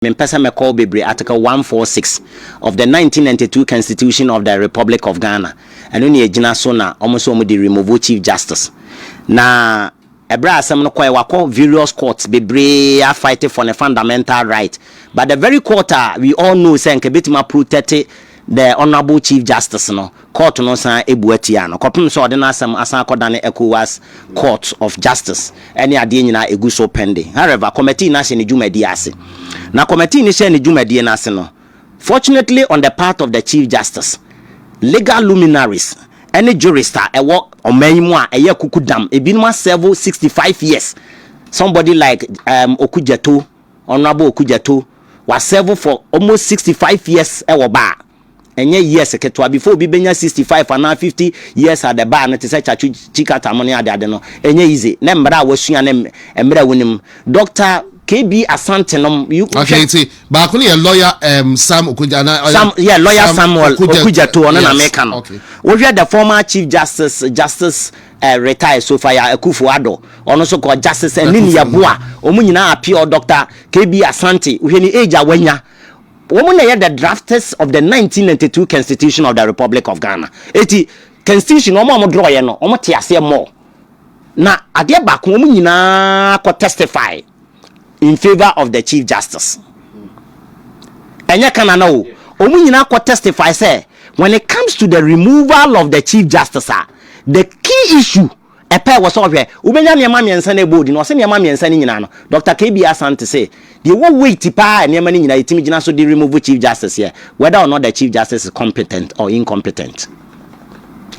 mempɛ sɛ mɛkɔ hɔ bebree, Article one four six of the nineteen ninety two Constitution of the Republic of Ghana, ɛno na ɛgyina so na wɔn nso wɔde removo Chief Justice. Na ɛberɛ a asɛm no kɔɛ, wakɔ various courts bebree afight for ne fundamental right, but the very court a we all know sɛ nka ɛbɛtumi aprotect The Honourable Chief Justice no, Kɔɔto no san bua tiaa no kɔpem sɛ ɔde n'asɛm asan akɔdane Ecowas Court of Justice ɛne adeɛ nyinaa ɛgu so pending. However, Kɔmɛtee no ahyɛ ne dwumadie ase. Na Kɔmɛtee no hyɛɛ ne dwumadie no ase no, fortunately on the part of the Chief Justice, legal luminaries ɛne jurists a ɛwɔ ɔman yi mu a ɛyɛ akukudam, ebinom asɛvo sixty five years, somebody like um, Okudzeto, Honourable Okudzeto wa serve for almost sixty five years wɔ bar a, ɛnyɛ years ketewa, before obi bɛnya sixty five anaa fifty years at the bar no te sɛ Chachu Chikata mo ne ade ade no, ɛnyɛ easy, ne mmara a wasua ne mmerɛ a wonim. Doctor KB Asante nom, you hwɛ. Okay, nti baako no yɛ lawyer um, Sam Okudze anaa ɔyɛ Sam, yeah, lawyer Sam Samuel Okudzeto, Okudzeto ɔno na yes, meka no. okay. Wohwɛ the former Chief Justice, Justice eh, retired Sophia Akufo-Addo, ɔno nso kɔ, Justice Anini Yeboah, wɔn nyinaa appeal, Doctor KB Asante, wohwɛ ne age a wanya, wɔn na ɛyɛ the drafters of the 1992 constitution of the Republic of Ghana. Eti constitution wɔn a wɔn drɔɔyɛ no, wɔn te aseɛ more. Na adeɛ baako, wɔn nyinaa kɔ testify. in favour of the chief justice ɛnyɛ Canada o wɔn nyinaa kɔ testify sɛ when it comes to the removal of the chief justice a the key issue ɛpɛ wɔ sɛ ɔhwɛ wobɛnya nneɛma mmiɛnsa na ɛbɔ odi na ɔsɛ nneɛma mmiɛnsa no nyinaa no Dr. KB Asante sɛ deɛ ɛwɔ weight paa a nneɛma no nyinaa yɛtumi gyina so de remove chief justice yɛ whether or not the chief justice is competent or incompetent.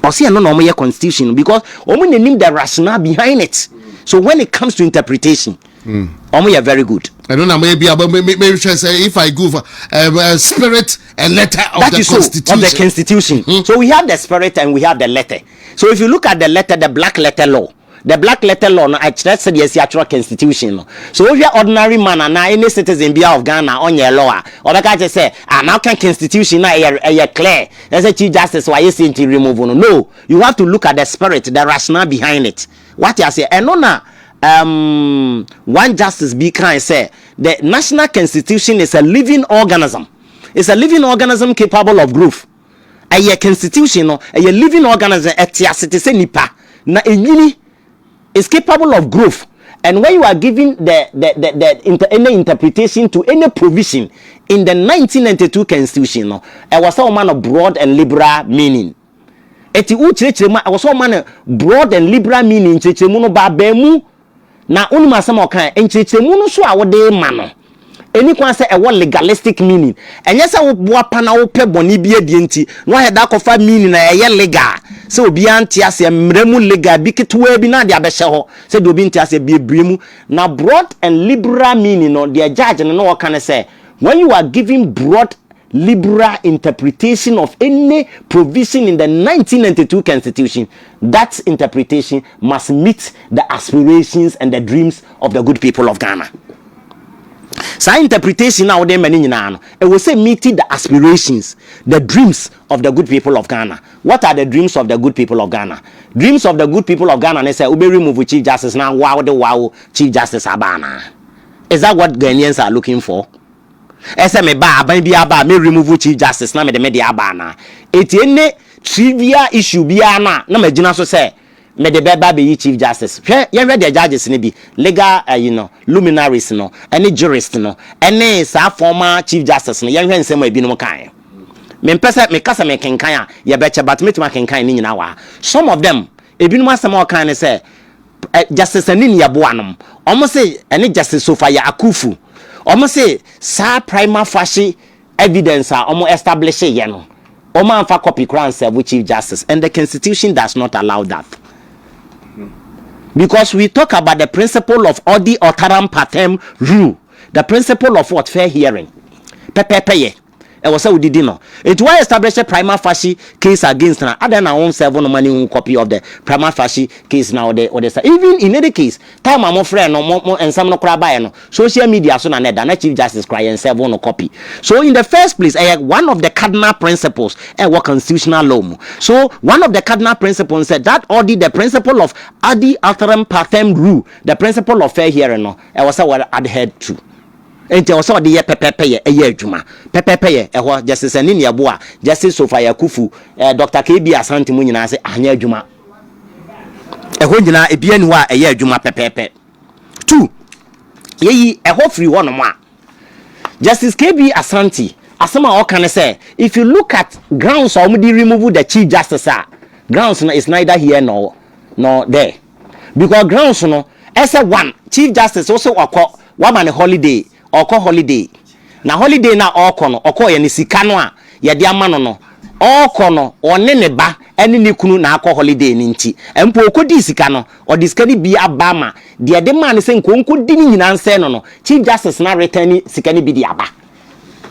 Ɔsi ɛno na wɔn yɛ constitution no because wɔn na nim the rationale behind it so when it comes to interpretation wɔn hmm. yɛ very good. ɛno na mɛ bi abɛ mɛ mɛ hwɛ sɛ if i give uh, spirit and letter of that the constitution. that is so of the constitution mm. so we have the spirit and we have the letter so if you look at the letter the black letter law. The Black Letter Law no akyerɛ sɛdeɛ yɛasi atwerɛ Constitution no. So wohwɛ ordinary man anaa any citizen biara of Ghana a ɔnyɛɛ law a, ɔbɛka akyerɛ sɛ, ah, na woka Constitution no a ɛyɛ ɛyɛ clear, na sɛ Chief Justice wayɛ sei nti remove no. No, you have to look at the spirit, the rationale behind it. Woate aseɛ? Ɛno na um, one justice bi kae sɛ, the national constitution is a living organism. It's a living organism capable of growth. Ɛyɛ constitution no, ɛyɛ living organism, ɛte ase te sɛ nipa, na ɛnyini, is capable of growth. And when you are giving the, the, the, the inter, any interpretation to any provision in the 1992 constitution no, ɛwɔ sɛ wɔma no broad and liberal meaning. Ɛti wokyerɛkyerɛ mu a, ɛwɔ sɛ wɔma no broad and liberal meaning, nkyerɛkyerɛmu no ba abɛn mu Na wonim asɛm a ɔkae, nkyerɛkyerɛmu no so a wode rema no, ɛnni kwan sɛ ɛwɔ legalistic meaning. Ɛnyɛ sɛ wo boapa na wopɛ bɔne bi adie nti na woayɛ de akɔfa meaning a ɛyɛ legal a sɛ obiara nte aseɛ, mmara mu legal bi ketewaa bi na ade abɛhyɛ hɔ sɛ deɛ obi nte aseɛ biebie mu. Na broad and liberal meaning no, deɛ judge no na ɔreka ne sɛ, when you are giving broad liberal interpretation of any provision in the nineteen ninety two constitution, that interpretation. must meet the aspirations and the dreams of the good people of Ghana. Saa interpretation a wode ma no nyinaa no, ɛwɔ sɛ meet the aspirations, the dreams of the good people of Ghana. What are the dreams of the good people of Ghana? Dreams of the good people of Ghana ne sɛ wobɛ remove Chief Justice na woa wode woa wo Chief Justice aba anaa? Is that what Ghanaians are looking for? Ɛyɛ sɛ mebaa aban biara baa me remove chief justice na mede me deɛ aba anaa? Eti ene trivial issue biara no a na magyina so sɛ mede bɛba abɛyi chief justice. Hwɛ yɛnhwɛ deɛ judges no bi, legal ayi no, luminaries no, ɛne jurists no, ɛne saa former chief justice no, yɛnhwɛ nsɛm a ebinom kaeɛ. Mempɛ sɛ meka sɛ mekenkan a yɛbɛkyɛ but mɛtumi akenkan ne nyinaa wɔ ha. Some of them, Ebinom asɛm a wɔkae ne sɛ, Justice Anin yɛ boanom. Wɔse ɛne Justice Sofaya Akufu. Wɔse saa prima facie evidence a wɔn establish yɛ no, wɔn amfa copy koraa ansɛɛvo Chief Justice and the constitution does not allow that. Because we talk about the principle of odi otaram partem rule, the principle of what? Fair hearing. Pɛpɛɛpɛyɛ. ɛwɔ sɛ wodidi no enti why establish prima facie case against na adɛn na won serve no ma ne hu copy of the prima facie case na wode wode sa even in any case time a mo frɛ no mo mo nsɛm no koraa baeɛ no social media so na na ɛda na chief justice koraa yɛn serve no copy so in the first place ɛyɛ one of the cardinal principles ɛwɔ constitutional law mu so one of the cardinal principles sɛ that audit the principle of adi alteram partem rule the principle of fair hearing no ɛwɔ sɛ wɔ adhered to Enti ɛwɔ sɛ ɔde yɛ pɛpɛɛpɛyɛ ɛyɛ adwuma. Pɛpɛɛpɛyɛ ɛhɔ gyɛse sɛ ne nea ɛboa Gyɛse Sofa Yakufu, ɛɛ Dɔkta KB Asante mo nyinaa se anyɛ adwuma. Ɛhɔ nyinaa ebiaa nni hɔ a ɛyɛ adwuma pɛpɛɛpɛ. Tu yɛyi ɛhɔ firi hɔ nom a, Justice KB Asante asɛm a ɔka ne sɛ if you look at grounds a wɔde remove the Chief Justice a, grounds no is neither here nor nor there. Because grounds no ɛsɛ one chief justice wose ɔkɔ wama no holiday ɔkɔ holiday na holiday no a ɔkɔ no ɔkɔɔyɛ no sika no a yɛde ama no no ɔkɔ no ɔne ne ba ɛne ne kunu na akɔ holiday no nti mpo ɔkɔdii sika no ɔde sika no bi aba ma deɛ ɛde maa no sɛ nka ɔnkɔdi no nyinaa nsɛe no no chief justice no areturne sika no bi de aba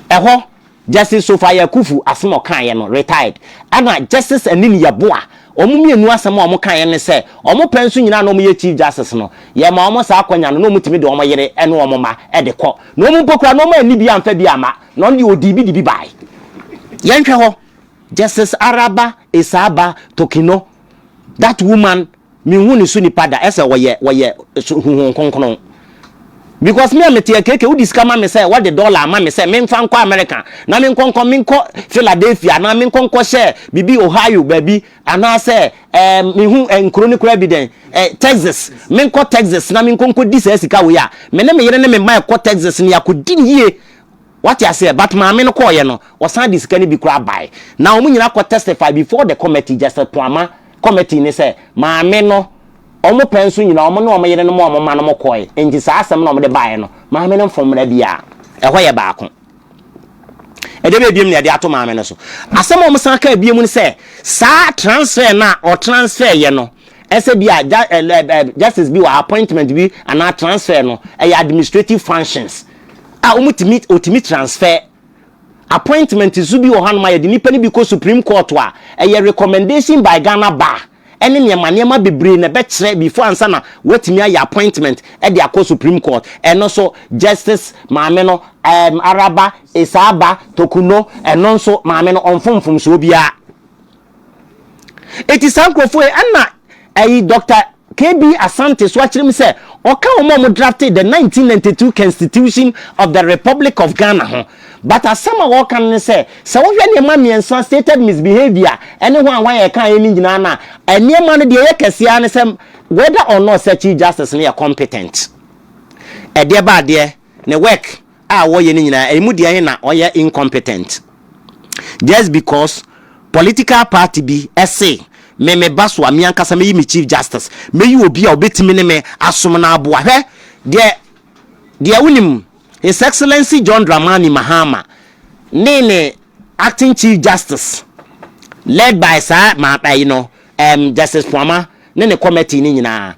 ɛhɔ Justice Sofa Yakufu asem a ɔkaeɛ no, retired, ɛna Justice Anin Yeboah, wɔn mmienu asem a wɔkaeɛ ne sɛ, wɔn pɛ nso nyinaa na wɔyɛ Chief Justice no, yɛmaa wɔn saa akwanya no na wɔtumi de wɔn yere ne wɔn mma de kɔ, na wɔn mpo koraa na wɔn anni bi amfa bi amma, na ɔno deɛ ɔdii bi de bi baeɛ. Yɛnhwɛ hɔ. Justice Araba Esaaba Tokino That woman me hu ne so nipa da ɛsɛ ɔyɛ ɔyɛ so huhun kronkron because me a me te ɛkeke wodi sika ma me sɛ wɔde dollar ama me sɛ me nfa nkɔ America na me nkɔ nkɔ me nkɔ Philadelphia anaa me nkɔ nkɔ hyɛ bibi Ohio baabi anaa sɛ ɛɛ me hu ɛ nkuro ne kura bi dɛn ɛ Texas me nkɔ Texas na me nkɔ nkɔ di saa sika wei a me ne me yere ne me mma ɛkɔ Texas ne akɔ di yie Wate aseɛ? But maame no kɔɔeɛ no, ɔsan de sika no bi koraa bae. Na wɔn nyinaa kɔ testify before the committee, Justice Poama committee no sɛ, maame no, wɔn pɛ nso nyinaa, wɔn ne wɔn yerenom a wɔn mma nom kɔɔe. Enti saa asɛm no a wɔde baeɛ no, maame no mfom mmara biara. Ɛhɔ yɛ baako. Ɛdeɛ bɛyɛ biom na yɛde ato maame no so. Asɛm a wɔsan kaa biom ne sɛ, saa transfer no a ɔtransfereeɛ no, ɛsɛ bi a Justice bi wɔ appointment bi anaa transfer no, ɛyɛ administrative functions. a wɔtumi wɔtumi transfer appointment nso bi wɔ hɔ anoma yɛde nipa no bi kɔ supreme court a ɛyɛ recommendation by ghana bar ɛne nneɛma nneɛma bebree na ɛbɛkyerɛ before ansa na wɔatumi ayɛ appointment ɛde akɔ supreme court ɛno so justice maame no um, araba esaaba tokuno ɛno nso maame no ɔmfomfomsoɔ biara eti saa nkurɔfoɔ yi ɛna ɛyi dɔkta KB Asante so akyerɛ mu sɛ ɔka wɔn a wɔdraftee the nineteen ninety two Constitution of the Republic of Ghana ho. But asɛm a ɔreka no ne sɛ, sɛ wohwɛ nneɛma mmiɛnsa, stated misbehaviour, ne hwan hwan a ɛkaeɛ no nyinaa no a, nneɛma no deɛ ɛyɛ kɛseɛ ara ne sɛ whether or not sɛ Chief Justice no yɛ competent. Ɛdeɛ ba adeɛ. ne work a wɔyɛ no nyinaa ɛmu deɛ he na ɔyɛ incompetent just because political party bi se me me ba so a me ankasa mɛyi me chief justice mɛyi obi a ɔbɛtumi ne me asom na aboa hwɛ deɛ deɛ wonim his excellency John Dramani Mahama ne ne acting chief justice led by saa ma ɛyi no um, justice Puama ne ne kɔmɛtee no nyinaa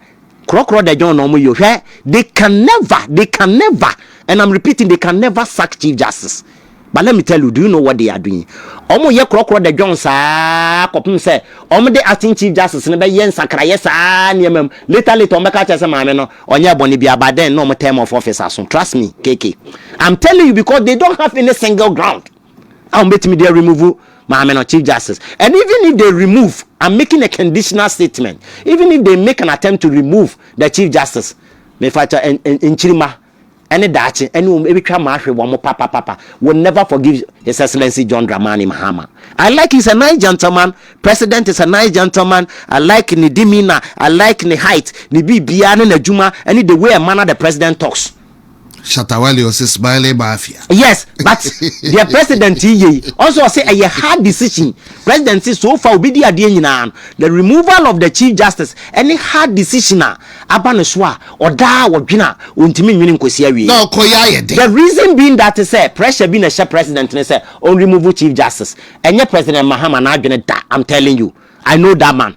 korɔkorɔ the John na ɔmo yɛ o hwɛ they can never they can never and I'm repeating they can never sack chief justice but let me tell you do you know what they are doing ɔmo yɛ korɔkorɔ the John saa kɔpem sɛ ɔmo de acting chief justice no bɛyɛ nsakrayɛ saa nneɛma mu later later ɔmo bɛka kyerɛ sɛ maame no ɔnyɛ ɛbɔne bi aba then na ɔmo term of office aso trust me KK I'm telling you because they don't have any single ground. a wɔn bɛtumi de remove maame no chief justice and even if they remove i'm making a conditional statement even if they make an attempt to remove the chief justice mefakyɛ nkyirima ɛne daakye ɛne wɔn ebitwa ma ahwɛ wɔn papapapa will never forgive his excellency john dramani mahama i like he's a nice gentleman president is a nice gentleman i like ne demeanor i like ne height ne biribiara ne n'adwuma ɛne the way a manner the president talks. Shatawale ɔsi smiling mafia. Yes but deɛ president yi yɛ yi ɔnso ɔsi ɛyɛ hard decision president si so far obi di adeɛ nyinaa no the removal of the chief justice ɛne hard decision a aba ne so a ɔdaa ɔdwene a ɔntumi nwene nkosi awie. Na ɔkɔ yɛ ayɛ den. The reason being that sɛ pressure bi na ɛhyɛ president ne sɛ ɔn remove chief justice ɛnyɛ president Mahama n'adwene da I'm telling you I know that man.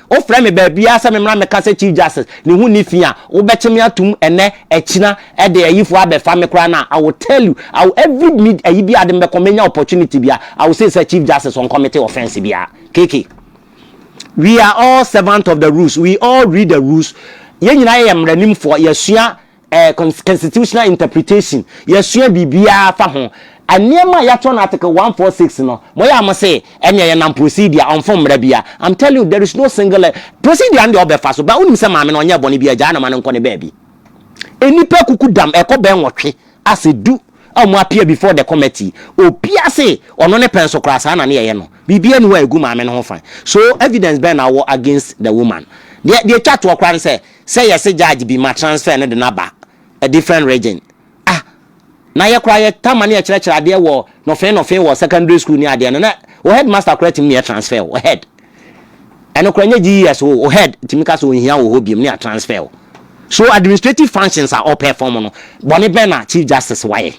Wofrɛ me baabiara sɛ memmra mmɛka sɛ Chief Justice, ne ho nni fi a, wobɛkye me atom ɛnnɛ, akyina, de ayifoɔ abɛfa me koraa no a, I will tell you, I will, every mid, ayi biara de me bɛkɔ, mɛnya opportunity biara, I will say sɛ Chief Justice ɔncommite offence biara. KK, we are all servant of the rules, we all read the rules, yɛn nyinaa yɛ mmaranimfoɔ, yɛasua, Eh, constitutional interpretation, yɛasua biribiara fa ho. Eh, nneɛma a yɛatwerɛ no Article 146 no, moyɛ a mose ɛnneɛ yɛnam procedure, ɔmfom mmara bia. I'm telling you, there is no single eh, procedure no deɛ ɔbɛfa so, but wonim sɛ maame no ɔnyɛɛ bɔne bia, gyaa no ma no nkɔ ne baabi. Nnipa akuku dam, ɛkɔ bɛn nwɔtwe, ase du a wɔn appear before the committee, obia se ɔno ne pɛ nso koraa saa na ne yɛyɛ no. Biribiara nni hɔ a ɛgu maame no ho fa. So evidence bɛn na wowɔ against the woman? Deɛ deɛ ɛtwa toɔ koraa ne sɛ, sɛ yɛse judge bi ma transfer no de no aba a different region ah na yɛ koraa yɛtaa ma no yɛkyerɛkyerɛ adeɛ wɔ nɔfee nɔfee wɔ secondary school ne adeɛ no na wo headmaster koraa tumi ne yɛ transfer wo head ɛno koraa nyɛ GES wo wo head tumi ka sɛ ɔnhia wo hɔ biom ne yɛ transfer wo so administrative functions a ɔpɛ fam no bɔne bɛn na chief justice wayɛ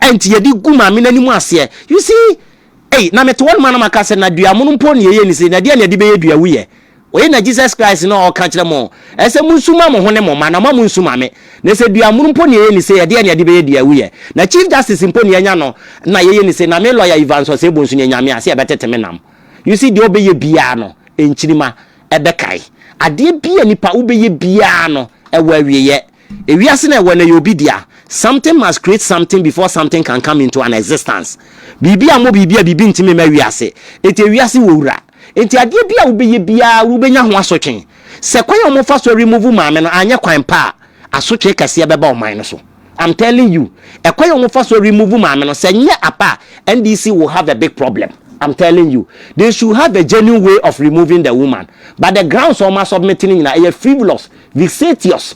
ɛnti yɛde gu maame no anim aseɛ you see Ei, na mete hɔ no ma na maka sɛ, na dua mono mpo ne ɛyɛ ni sei, na deɛn na ɛde bɛyɛ dua wuyɛ? Wei na Jesus Christ no a ɔka kyerɛ mo, ɛsɛ monsu mma mo ho ne mo mma, na moammo nsu ma me. Na sɛ dua mono mpo ne ɛyɛ ni sei, ɛdeɛn na ɛde bɛyɛ dua wuyɛ? Na Chief Justice mpo ne anya no na yɛyɛ ni sei, na me lawyer Evans Osei-Boh nso ne anya me a, sɛ yɛbɛtete me nam. You see, deɛ ɔbɛyɛ biara no, nkyirima ɛbɛkae. Adeɛ biara a nipa wobɛyɛ biara no, ɛwɔ awieɛ. Ewiase no a ɛwɔ nnɛ yɛ obi dea. Something must create something before something can come into an existence. Biribi ammɔ biribi a biribi ntumi mma wiase. Enti ewiase wɔ wura. Enti adeɛ bi a wobɛyɛ biara wobɛnya ho asotwe. Sɛ kwan a wɔfa so remove maame no anyɛ kwan pa a, asotwe kɛseɛ bɛba ɔman no so. I'm telling you. Ɛkwan a wɔfa so remove maame no, sɛ nyɛ apa a, NDC will have a big problem. I'm telling you. They should have a genuine way of removing the woman. But the grounds a wɔasubmit no nyinaa, ɛyɛ frivolous. Vexatious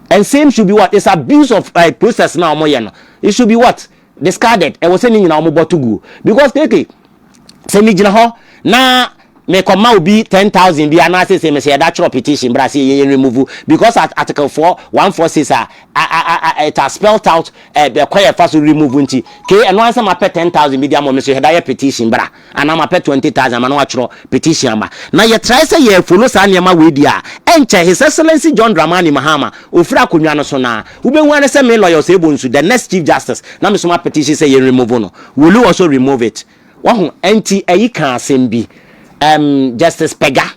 and same should be what is abuse of uh, process na wɔn yɛ no it should be what discarded ɛwɔ sɛ ne nyinaa wɔn bɔ to guo because keke sɛ mi gyina hɔ na mekɔ ma obi ten thousand bi anaasɛ sɛ mesɛ yɛda twerɛ petition bra sɛ yɛyɛ remove because at article four one four six a it has spelled out ɛkwan yɛfa so remove nti ke ɛno ansa ma pɛ ten thousand bi di ama mi so yɛda yɛ petition bra. a na mapɛ twenty thousand ama na watwerɛ petition ama na yɛtrae sɛ yɛ follow saa nneɛma wei deɛ a ɛnkyɛ His Excellency John Dramani Mahama ɔfiri akonnwa no so na wobɛhu ara ne sɛ me Lawyer Osei Bonsu the next Chief Justice na mesoma petition sɛ yɛn remove no will you also remove it wahu ɛnti ɛyi kaa asɛm bi ɛɛm Justice Pega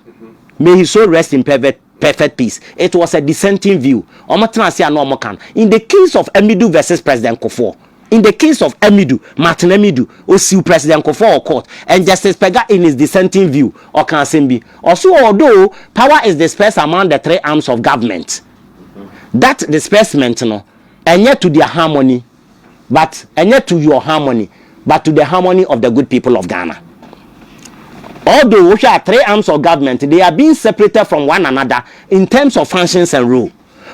may his soul rest in perfect Perfect peace. It was a dissenting view. Ɔmo tena ase a na ɔmo ka no. In the case of Amidu versus President Kufuor, in the case of Amidu, Martin Amidu, osiw President Kufuor wɔ court and Justice Pega in his dissenting view, ɔka asɛm bi. Ɔse although power is dispersed among the three arms of government, that disbursement no, ɛnyɛ to their harmony. But ɛnyɛ to your harmony but to the harmony of the good people of Ghana. Although wo hwɛ a three arms of government they are being separated from one another in terms of functions and role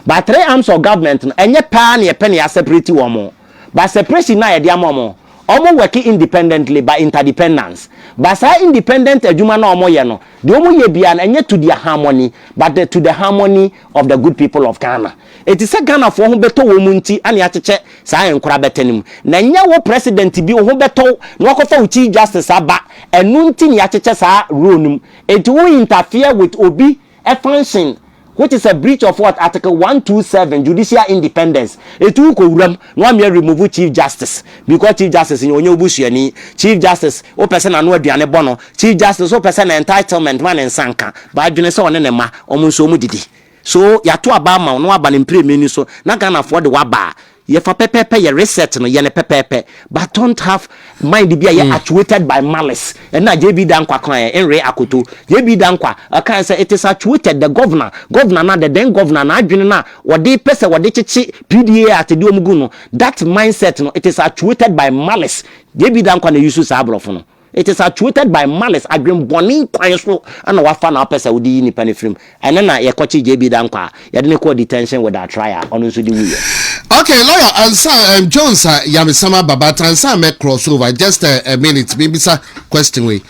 but three arms of government no ɛnyɛ pɛ ara na yɛpɛ na yɛ aseparate wɔn but separation no a yɛde ama wɔn wɔn work independently but interdependence but saa independent adwuma no a wɔyɛ no deɛ wɔyɛ biara no ɛnyɛ to their harmony but the, to the harmony of the good people of Ghana eti sɛ Ghana foɔ ho bɛtɔ wɔ mu nti ɛne akyekyɛ saa ɛnkora bɛtɛ no mu na ɛnyɛ wo president bi wo ho bɛtɔ wo na wakɔfa wo chief justice aba ɛno nti ne akyekyɛ saa role no mu enti wo interfere with obi function which is a breach of what article 127 judicial independence eti wo kɔ wura mu na wamea remove chief justice because chief justice nyɛ ɔnyɛ wo busuani chief justice wo pɛ sɛ n'ano aduane bɔ no Chief Justice so pɛ sɛ na entitlement ma ne nsa nka, but adwene sɛ ɔne ne mma, wɔn nso wɔn didi. So yɛato aba ama wo na woaba no mprɛminu so na Ghanafoɔ de wo aba a, yɛ fa pɛpɛɛpɛ yɛ research no, yɛ no pɛpɛɛpɛ but don't have mind bi a ɛyɛ actuated by malice. Ɛno na JB Dankwa kaeɛ, Nre Akoto. JB Dankwa ɔkaeɛ sɛ it is actuated, the Governor, Governor no a, the then Governor, n'adwene no a ɔde pɛ sɛ ɔde kyekye PDA Act de wɔn gu no, that mindset no, it is actuated by malice. JB Dankwa na use saa aborɔfo no. It is actuated by malice, adwenbɔne kwan so na wafa na wapɛ sɛ ɔde yi nipa no firi mu. Ɛnnɛ na yɛkɔkye JB Dankwah a, yɛde no kɔɔ detention without trial, ɔno nso de wuiɛ. Okay lawyer Ansah um Jones a yamesɛm aba but ansa mɛ cross over just a, a minute me bisa question wei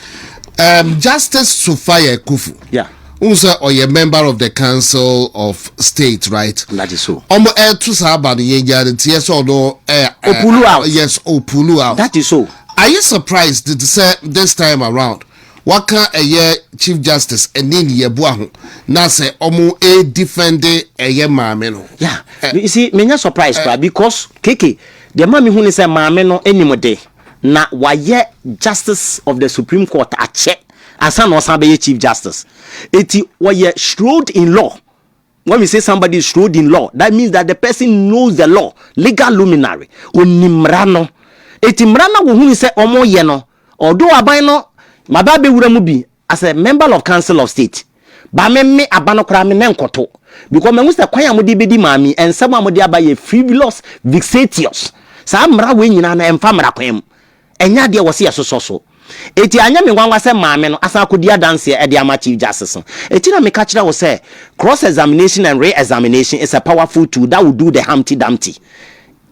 um Justice Sophia Akufu. Yeah. Wohu sɛ ɔyɛ member of the council of state right? That is so. Ɔmo ɛto saa aba no yɛn gyaa no nteɛ sɛ ɔno ɛ. O pulu out. Yes o pulu out. That is so. Ayɛ surprise dede sɛ this time around waka ɛyɛ chief justice ɛne ne yɛboa ho na sɛ ɔmo ɛ defende ɛyɛ maame no. Yeah, you see menyɛ surprise koraa because keke deɛ ma mehu ne sɛ maame no ɛnim de. na wayɛ Justice of the Supreme Court akyɛ ansa na ɔsan bɛyɛ Chief Justice. Eti wɔyɛ shrewd in law. When we say somebody is shrewd in law, that means that the person knows the law, legal luminary. Onim mmara no. Eti mmara no a wɔhunu sɛ wɔyɛ no, ɔdo aban no maba abɛwura mu bi As a member of council of state ba me me aba no koraa me nɛ nkɔto because mahu sɛ kwan a mode bɛdi maa mi nsɛm a mode aba yɛ frivolous vexatious saa mmara wei nyinaa no ɛmfa mmara kwan mu ɛnyɛ adeɛ wɔ se yɛsosɔ so eti anyɛ me nwanwa sɛ maame no asan akɔdi adanseɛ ɛde ama chief justice no eti na meka kyerɛ wo sɛ cross examination and re-examination is a powerful tool that will do the humpty dumpty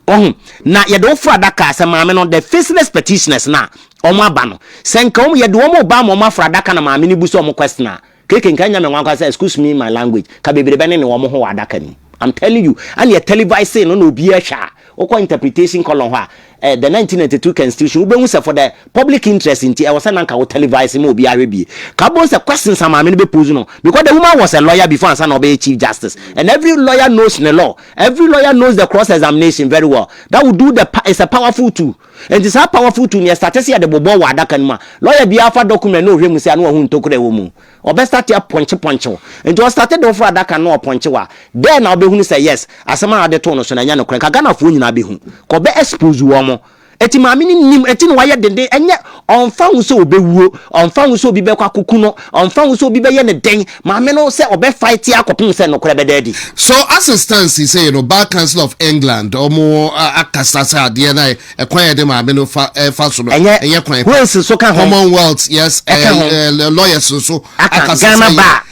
Wahu? Na yɛde wo foro adaka a, sɛ maame no, the faceless petitioners no a, wɔn aba no, sɛ nka wɔn, yɛde wɔn reba ama wɔn aforo adaka na maame no bu sɛ wɔn question a, keke nka anya me nwankwa sɛ, excuse me my language, ka bebrebe ne ne wɔn ho wɔ adaka no mu. I'm telling you, ɛna yɛ televise no na obiara hwɛ a, wokɔ interpretation column hɔ a, eh, the 1992 constitution, wobɛhu sɛ for the public interest nti, ɛwɔ sɛ na nka wo televise ma obiara hwɛ bie. Ka wobɛhu sɛ questions a maame no bɛ pose no, because the woman was a lawyer before ansa na ɔbɛyɛ chief justice, and every lawyer knows ne law, Every lawyer knows the cross examination very well that will do the pa is a powerful tool nti saa powerful tool no yɛ sate sɛ yɛde bobɔ wɔ adaka no mu a lawyer biara fa document na ɔhwɛ mu sɛ a na wahu ntokura ɛwɔ mu ɔbɛ state apɔnkye pɔnkye wo nti ɔ state de woforo adaka no na ɔpɔnkye wo a dɛn na wobɛhunu sɛ yes asɛm a ɔde too no so no ɛnyɛ nokorɛ nka Ghanafoɔ nyinaa bɛhu kɔ bɛ expose wɔn Enti maame no nim, enti na wayɛ denden. Ɛnyɛ, ɔmfa ho sɛ ɔbɛwuo, ɔmfa ho sɛ obi bɛkɔ akɔku no, ɔmfa ho sɛ obi bɛyɛ no dɛn, maame no sɛ ɔbɛ fight akɔpem sɛ nokorɛ bɛda adi. So asetan seisei no Bar Council of England wɔn akasa sɛ adeɛ no a kwan a yɛde maame no fa ɛfa so no Ɛnyɛ, ɛnyɛ kwan pa. Wales nso ka ho. Commonwealth, yes, Ɛka ho. ɛɛ, lawyers nso Aka, akasa sɛ Ghana ɛyɛ. Bar.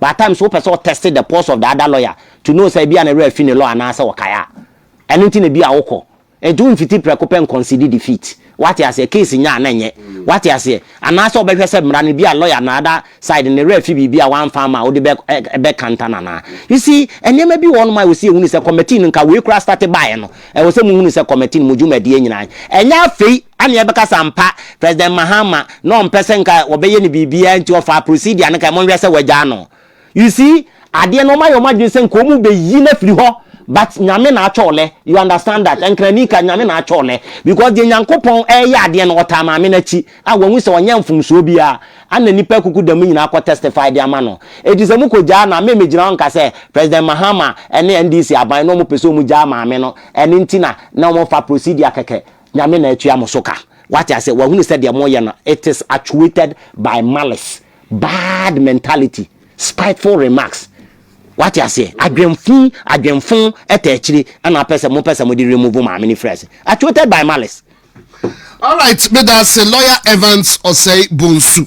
but at times wopɛ sɛ wo test the pulse of the other lawyer to know sɛ ebia ne werɛ afi ne law anaasɛ ɔkae a ɛno nti na ebia wokɔ nti womfiti prɛko pɛ nconcede defeat woate aseɛ case nya a na ɛnyɛ woate aseɛ anaasɛ wobɛhwɛ sɛ mmara no ebia lawyer no other side ne werɛ afi biribi a wamfa ama a wode bɛ ɛbɛkanta no anaa you see nneɛma bi wɔ hɔnom a ɛwɔ sɛ yɛhunu sɛ committee no nka wei koraa starte baeɛ no Ɛwɔ sɛ muhunu sɛ kɔmɛte no mu dwumadie nyinaa ɛnyɛ afei na yɛbɛka sɛ ampa President Mahama na ɔmpɛ sɛ nka wɔbɛyɛ no biribiara nti ɔfaa procedure no kae, monhwɛ sɛ wɔagyaa no. You see, adeɛ no wɔayɛ wɔn adwene sɛ nka wɔbɛyi no afiri hɔ but Nyame na atwɔ lɛ, you understand that, Nkrani ka Nyame na atwɔ lɛ because deɛ Nyankopɔn ɛreyɛ adeɛ no ɔtaa Maame no akyi, a wɔahu sɛ ɔnyɛɛ mfomsoɔ biara a na nnipa akuku dɛm nyinaa kɔ testify de ama no. Enti sɛ mokɔgyaa no a, me megyina hɔ nka sɛ President Mahama ne NDC aban na wɔpɛ sɛ wɔgyaa maame no, ɛno nti na na wɔmfa procedure kɛkɛ. Nyame na atua mo so ka. Wate aseɛ? Wahunu sɛ deɛ moyɛ no it is actuated by malice, bad mentality, spiteful remarks. Wate aseɛ? Adwenfu, adwenfo ɛtɛ akyire ɛna apɛ sɛ mopɛ sɛ mode remove maame no firi ase. Actuated by malice. Alright, meda ase Lawyer Evans Osei Bonsu.